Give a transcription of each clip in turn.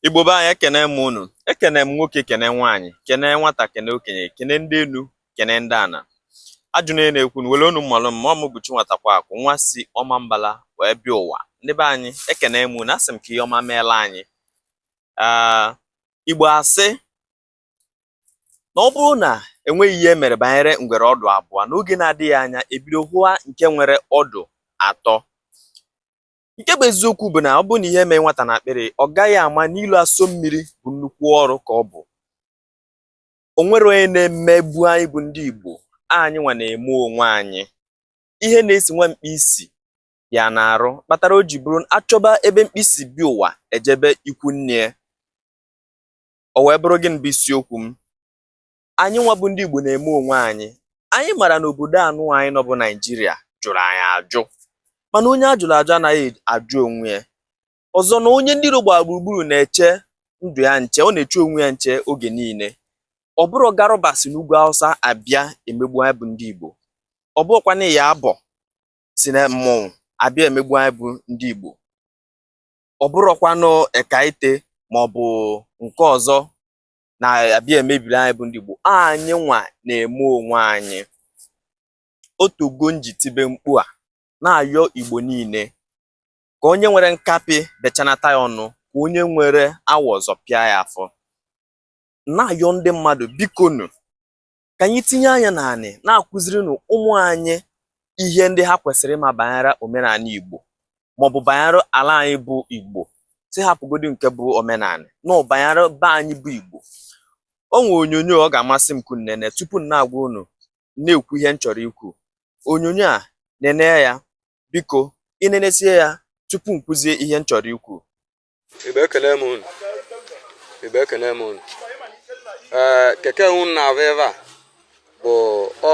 Igbo be anyị ekene m unu ekene m nwoke kene nwaanyị kene nwata kene okenye kene ndị enu kene ndị ana ajụ na na-ekwu na were unu mmalụ m ma ọ m bụ Chinwatakweakụ nwa si Ọmambala wee bịa ụwa ndị be anyị ekene m unu asị m ka ihe ọma meela anyị ah, Igbo asị na ọ bụrụ na enweghị ihe e mere banyere ngwere ọdụ abụọ n'oge na-adịghị anya ebido hụwa nke nwere ọdụ atọ nke bụ eziokwu bụ na ọ bụrụ na ihe emeghị nwata n'akpịrị ọ gaghị ama na ilo asọ mmiri bụ nnukwu ọrụ ka ọ bụ o nwerọ onye na-emegbu anyị bụ ndị Igbo anyị nwa na-eme onwe anyị ihe na-esi nwa mkpi si ya n'arụ kpatara o ji bụrụ achọba ebe mkpi si bịa ụwa ejebe ikwu nne o wee bụrụ gịnị bụ isiokwu m anyị nwa bụ ndị Igbo na-eme onwe anyị anyị mara na obodo anụwa anyị nọ bụ Naijiria jụrụ anyị ajụ mana onye ajụrụ ajụ anaghị ajụ onwe ya ọzọ na onye ndị ilo gbara gburugburu na-eche ndụ ya nche ọ na-eche onwe ya nche oge niile ọ bụrọ Garuba si n'ugwu Hausa abịa emegbu anyị bụ ndị Igbo ọ bụrọkwanụ Iyabọ si na mmọnwụ abịa emegbu anyị bụ ndị Igbo ọ bụrọkwanụ Ekaite maọbụ nke ọzọ na-abịa emebiri anyị bụ ndị Igbo anyị nwa na-eme onwe anyị o teego m ji tibe mkpu a na-ayọ Igbo niile ka onye nwere nkapị bechanata ya ọnụ ka onye nwere awọ zọpịa ya afọ na-ayọ ndị mmadụ bikonu ka anyị tinye anya na anyị na-akụziri na ụmụ anyị ihe ndị ha kwesịrị ịma banyere omenala Igbo maọbụ banyere ala anyị bụ Igbo sị hapụgodi nke bụ omenala na banyere be anyị bụ Igbo o nwere onyonyo ọ ga-amasị m ka unu nene tupu m na-agwa unu na-ekwu ihe m chọrọ ikwu onyonyo a nene ya biko i nenesie ya tupu m kwuzie ihe m chọrọ ikwu Igbo ekene m unu Igbo ekene m unu ee eh, keke unu na-avụ ebe a bụ ọ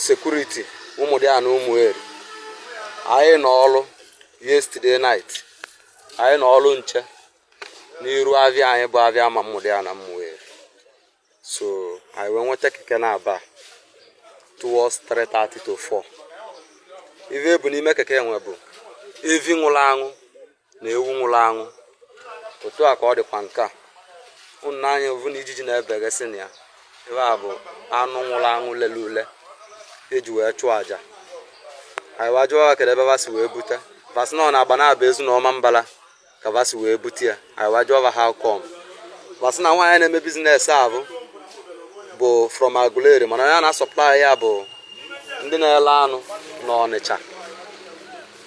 sekuriti Ụmụdịana Ụmụeri anyị nọ ọrụ yesterday night anyị nọ ọrụ nche n'iru avịa anyị bụ avịa ama Ụmụdịana Ụmụeri so anyị wee nweta keke na-aba towards 3:30 to 4 ive e bu n'ime keke enwe bụ evi nwụrụ anwụ na ewu nwụrụ anwụ otu a ka ọ dịkwa nke a unu nee anya ọ vụ na ijiji na-ebegasị na ya ebe a bụ anụ nwụrụ anwụ lele ule eji wee chụọ aja anyị wee jụọ va kedu ebe va si wee bute va sị na ọ n'Agbanabọ Ezu na Ọmambala ka va si wee bute ya anyị wee jụọ how come va sị na nwaanyị na-eme business ahụ bụ from Aguleri mana ya na-asọplai ya bụ ndị na-ele anụ na Ọnịcha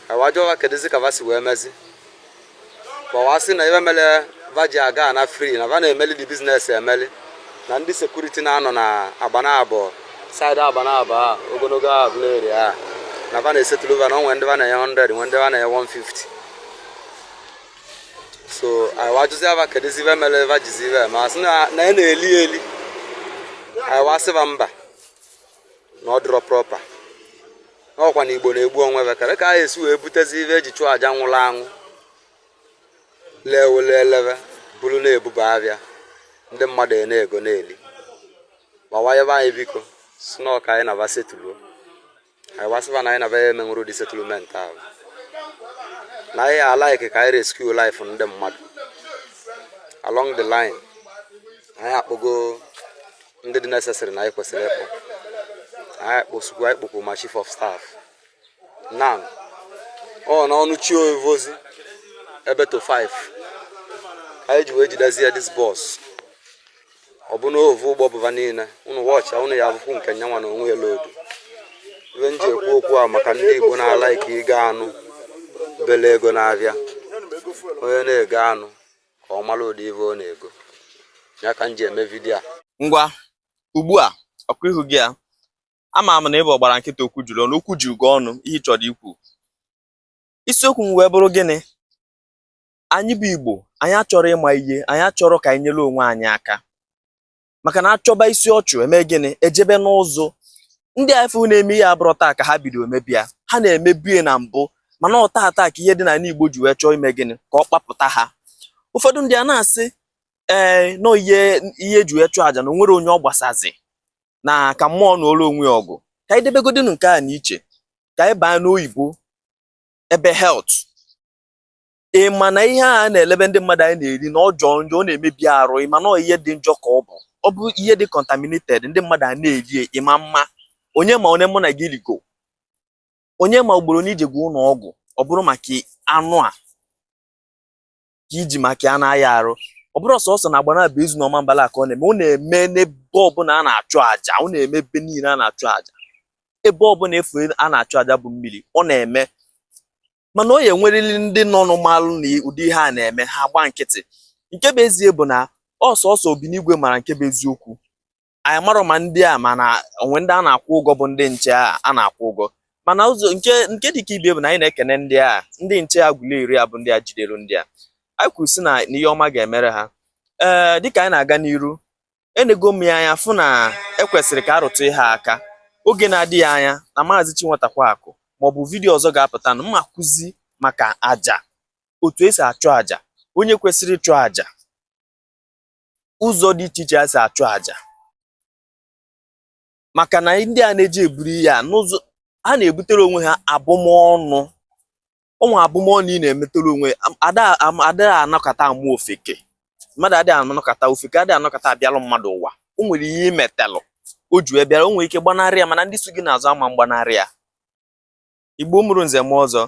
anyị wee jụọ ha kedụzi ka va si wee mezi kpọwa sị na ive mere va ji aga na free na va na-emeli the business emeli na ndị security na-anọ na Agbanabọ side Agbanabọ a ogologo Aguleri a na va na-esetụlụ va na o nwe ndị va na-enye 100 nwe ndị va na-enye 150 so anyị wa jụzia va kedụzi ive mere va jizi ive ma sị na ya na-eli eli anyị wa sị va mba na ọ dịrọ proper na ọkwa na Igbo na-egbu onwe ve kedụ ka a ya-esi wee butezi ive eji chụọ aja nwụrụ anwụ lee wele eleve buru na-ebuba avịa ndị mmadụ e na-ego na-eli ma wa yọba anyị biko sị na ọ ka anyị na va setuluo anyị wa sị va na anyị na va ya emenwuru ụdị settlement ahụ na anyị alaiki ka anyị rescue life ndị mmadụ along the line anyị akpọgo ndị dị necessary na anyị kwesịrị ịkpọ anyị kpọkwu ma chief of staff now ọ n'ọnụ chi ovozi ebe to 5 ka anyị ji wee jidezie this bus ọ bụ n'ovu ụgbọ bu va niile ụnụ wọchịa ụnụ ya avụkwu nke nyanwa na onwe ya lodu ive m ji ekwu okwu a maka ndị Igbo na-alaiki igo anụ bele ego n'avịa onye na-ego anụ ka ọ mara ụdị ive ọ na-ego ya ka m ji eme video a ngwa ugbu a ọkụ ihu gị a ama m na ị bụ ọgbara nkịtị okwu juru ọnụ okwu juru gị ọnụ ihe ị chọrọ ikwu isiokwu m wee bụrụ gịnị anyị bụ Igbo anyị achọrọ ịma ihe anyị achọrọ ka anyị nyere onwe anyị aka maka na achọba isi ọchụ eme gịnị ejebe n'ụzụ ndị afụ na-eme ihe a ọ bụrọ taa ka ha bido emebe ya ha na-emebu ya na mbụ mana ọ taa taa ka ihe dị n'ala Igbo ji wee chọọ ime gịnị ka ọ kpapụta ha ụfọdụ ndị a na-asị ee na ọ ihe ihe eji wee chụọ aja na o nwerọ onye ọ gbasazi na ka mmụọ nụọlụ onwe ya ọgụ ka anyị debegodinu nke a na iche ka anyị baa n'oyibo ebe health ị ma na ihe a na-elebe ndị mmadụ anyị na-eri na ọ jọọ njọ ọ na-emebi arụ ị ma na ọ ihe dị njọ ka ọ bụ ọ bụ ihe dị contaminated ndị mmadụ a na-eri ya, ị ma mma onye ma onye mụ na gị rigo onye ma ugboro one i jego ụlọ ọgwụ ọ bụrụ maka anụ a ka i ji maka ya na-aya arụ ọ bụrọ sọsọ na Agbanabọ Ezu na Ọmambala ka ọ na-eme ọ na-eme n'ebe ọbụla a na-achụ àjà ọ na-eme ebe niile a na-achụ àjà ebe ọbụla ị fụ a na-achụ àjà bụ mmiri ọ na-eme mana ọ ya-enwerịrị ndị nọnụ malụ na ụdị ihe a na-eme ha gba nkịtị nke bụ ezie bụ na ọ sọsọ Obinigwe mara nke bụ eziokwu anyị amarọ ma ndị a ma na o nwe ndị a na-akwụ ụgwọ bụ ndị nche a na-akwụ ụgwọ mana ụzọ nke nke dịka ibe bụ na anyị na-ekene ndị a ndị nche Aguleri a bụ ndị a jidere ndị a anyị kwuru sị na ihe ọma ga-emere ha ee dịka anyị na-aga n'iru enego m ya anya fụ na e kwesịrị ka a rụtụ ihe aka oge na-adịghị anya na maazị Chinwetakwa Akụ maọbụ vidiyo ọzọ ga-apụta na m ma-akụzi maka aja otu e si achụ aja onye kwesịrị ịchụ aja ụzọ dị iche iche e si achụ aja maka na ndị a na-eje eburu ihe a n'ụzọ ha na-ebutere onwe ha abụmọnụ ụmụ abụmọnụ ị na-emetere onwe ada anọkata amụ ofeke mmadụ adịghị anọkata ofeke adịghị anọkata abịalụ mmadụ ụwa o nwere ihe i metalụ o ji bịara o nwere ike gbanarị ya mana ndị so gị n'azụ ama agbanarị ya Igbo mụrụ nze mụọ ọzọ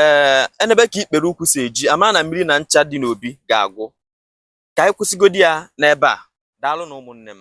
ee eh, e nebe ka ikpere ụkwụ si eji a ma na mmiri na ncha dị n'obi ga-agwụ ka anyị kwụsịgodi ya n'ebe a daalụ nụ ụmụnne m